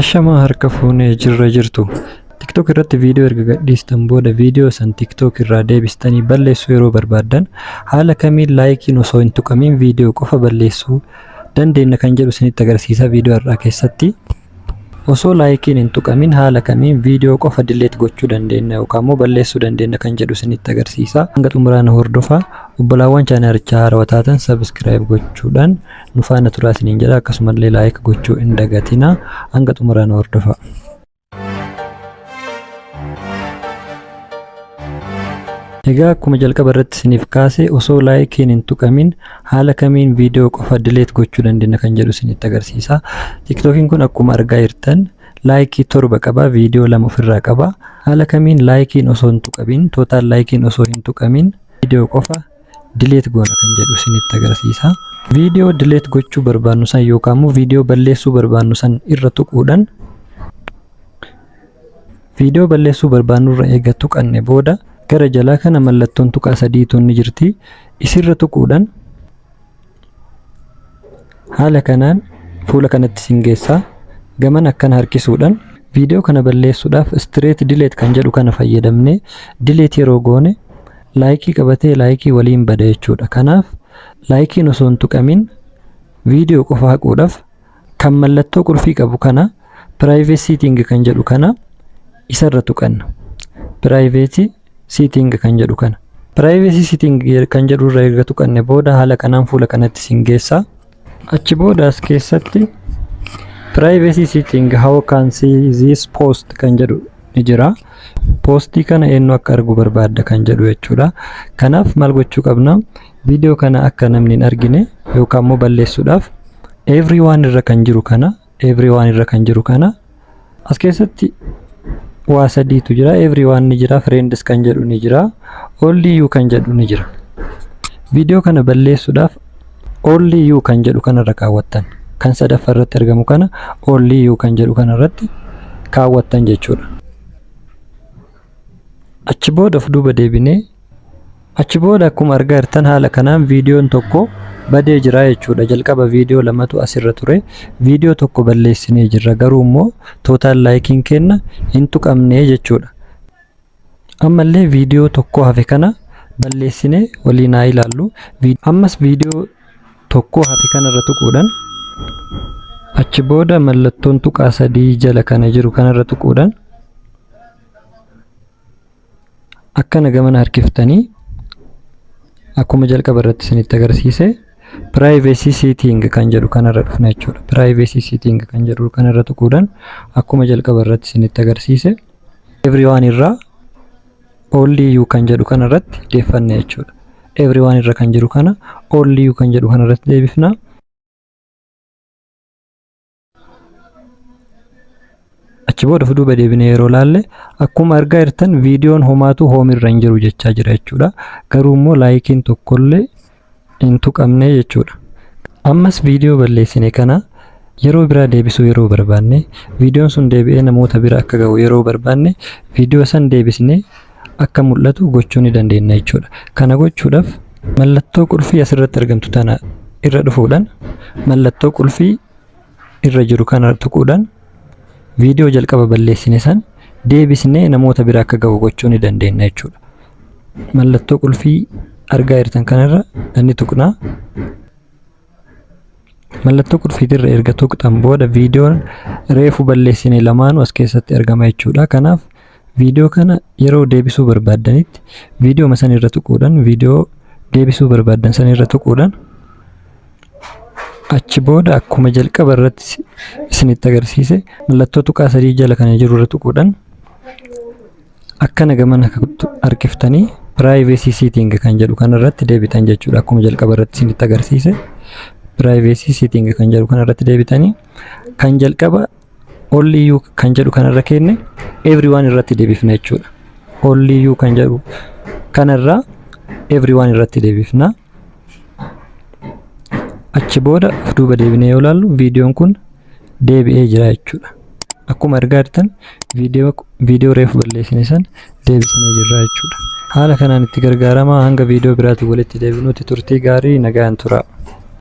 Ashamaa harka fuunee jirra jirtu. TikTok irratti viidiyoo erga gadhiistan booda viidiyoo san TikTok irraa deebistanii balleessuu yeroo barbaaddan haala kamiin laayikiin osoo hin tuqamiin viidiyoo qofa balleessuu dandeenna kan jedhu isinitti agarsiisa viidiyoo har'aa keessatti. Osoo laayikiin hin tuqamin haala kamiin viidiyoo qofa dileet gochuu dandeenna yookaan immoo balleessuu dandeenna kan jedhu isinitti agarsiisa. Hanga xumuraana hordofaa obbolaawwan chaanarichaa haarawa taatan sabiskiraayib gochuudhaan nu faana turaa isiniin jedha akkasumallee laayik gochuu hin dagatina hanga xumuraa nu hordofaa. Egaa akkuma jalqaba irratti isiniif kaase osoo laayikiin hin tuqamin haala kamiin viidiyoo qofa dileet gochuu dandeenya kan jedhu isinitti agarsiisa. Tiktookiin kun akkuma argaa jirtan laayikii torba qaba viidiyoo lama ofirraa qaba. Haala kamiin laayikiin osoo hin tuqamin tootaal laayikiin osoo hin tuqamin viidiyoo qofa delete goona kan jedhu isinitti agarsiisa. Viidiyoo delete gochuu barbaannu san yookaan immoo viidiyoo balleessuu barbaannu san irra tuquudhaan viidiyoo balleessuu barbaannu irra eega tuqanne booda gara jalaa kana mallattoon tuqaa sadii tun ni jirti. Isirra tuquudhaan Haala kanaan fuula kanatti isin geessa. Gamana akkana harkisuudhaan viidiyoo kana balleessuudhaaf straight delete kan jedhu kana fayyadamnee delete yeroo goone laayikii qabatee laayikii waliin bada jechuudha. Kanaaf laayikiin osoo hin tuqamin viidiyoo qofa haquudhaaf Kan mallattoo qulfii qabu kana private setting kan jedhu kana isarra tuqanna. Private setting kan jedhu kana. Privacy setting kan jedhu irra erga tuqanne booda haala kanaan fuula kanatti isin geessa. Achi booda as keessatti privacy setting how can see this post kan jedhu ni jira. Poostii kana eenyu akka argu barbaadda kan jedhu jechuudha. Kanaaf maal gochuu qabna? Viidiyoo kana akka namni hin argine yookaan immoo balleessuudhaaf everyone irra kan jiru kana everyone irra kan jiru kana as keessatti waa sadiitu jira everyone ni jira friends kan jedhu ni jira only you kan jedhu ni jira viidiyoo kana balleessuudhaaf only you kan jedhu kanarra kaawwattan kan sadaffaa irratti argamu kana only you kan jedhu kanarratti kaawwattan jechuudha achi booda of duuba deebinee Achi booda akkuma argaa jirtan haala kanaan viidiyoon tokko badee jira jechuudha. Jalqaba viidiyoo lamatu asirra ture. Viidiyoo tokko balleessinee jirra. Garuu immoo tootaal laayikiin keenna hin tuqamne jechuudha. Ammallee viidiyoo tokko hafe kana balleessinee waliin haa ilaallu. Ammas viidiyoo tokko hafe kanarra tuquudhaan achi booda mallattoon tuqaa sadii jala kana jiru kanarra tuquudhaan akkana gamana harkiftanii akkuma jalqaba irratti isinitti agarsiise privacy setting kan jedhu kanarra dhufna jechuudha. Privacy setting kan jedhu kanarra tuquudhaan akkuma jalqaba irratti isinitti agarsiise everyone irraa only you kan jedhu kanarratti deeffanna jechuudha. Everyone irra kan jiru kana only you kan jedhu kanarratti deebifna. achi booda of duuba deebine yeroo laalle akkuma argaa jirtan viidiyoon homaatuu hoom irra hin jiru jechaa jira jechuudha garuu immoo laayikiin tokkollee hin tuqamne jechuudha ammas viidiyoo balleessine kana yeroo biraa deebisuu yeroo barbaanne viidiyoon sun deebi'ee namoota bira akka ga'u yeroo barbaanne viidiyoo san deebisne akka mul'atu gochuu ni dandeenya jechuudha kana gochuudhaaf mallattoo qulfii asirratti argamtu tana irra dhufuudhaan mallattoo qulfii irra jiru kana tuquudhaan viidiyoo jalqaba balleessine san deebisnee namoota bira akka gahu gochuu ni dandeenya jechuudha. Mallattoo qulfii argaa jirtan kanarra ni tuqnaa. Mallattoo qulfiitirra erga tuqxan booda viidiyoon reefu balleessine lamaanuu as keessatti argama jechuudha. Kanaaf Viidiyoo kana yeroo deebisuu barbaaddanitti viidiyooma san irra tuquudhaan viidiyoo deebisuu barbaaddan san irra tuquudhaan achi booda akkuma jalqaba irratti si- isinitti agarsiise mallattoo tuqaa sadii jala kana jiru irra tuquudhaan akkana gamana kuttu- harkiftanii privacy setting kan jedhu kana irratti deebitan jechuudha akkuma jalqaba irratti isinitti agarsiise privacy setting kan jedhu kana irratti deebitanii kan jalqaba Only you kan jedhu kanarra keenne everyone irratti deebifna jechuudha. Only you kan jedhu kanarra everyone irratti deebifna. Achi booda of duuba deebinee yoo ilaallu viidiyoon kun deebi'ee jira jechuudha. Akkuma argaa jirtan viidiyoo viidiyoo reefu balleessine san deebisnee jirra jechuudha. Haala kanaan itti gargaaramaa hanga viidiyoo biraatiin walitti deebinuutti turtii gaarii nagaan turaa.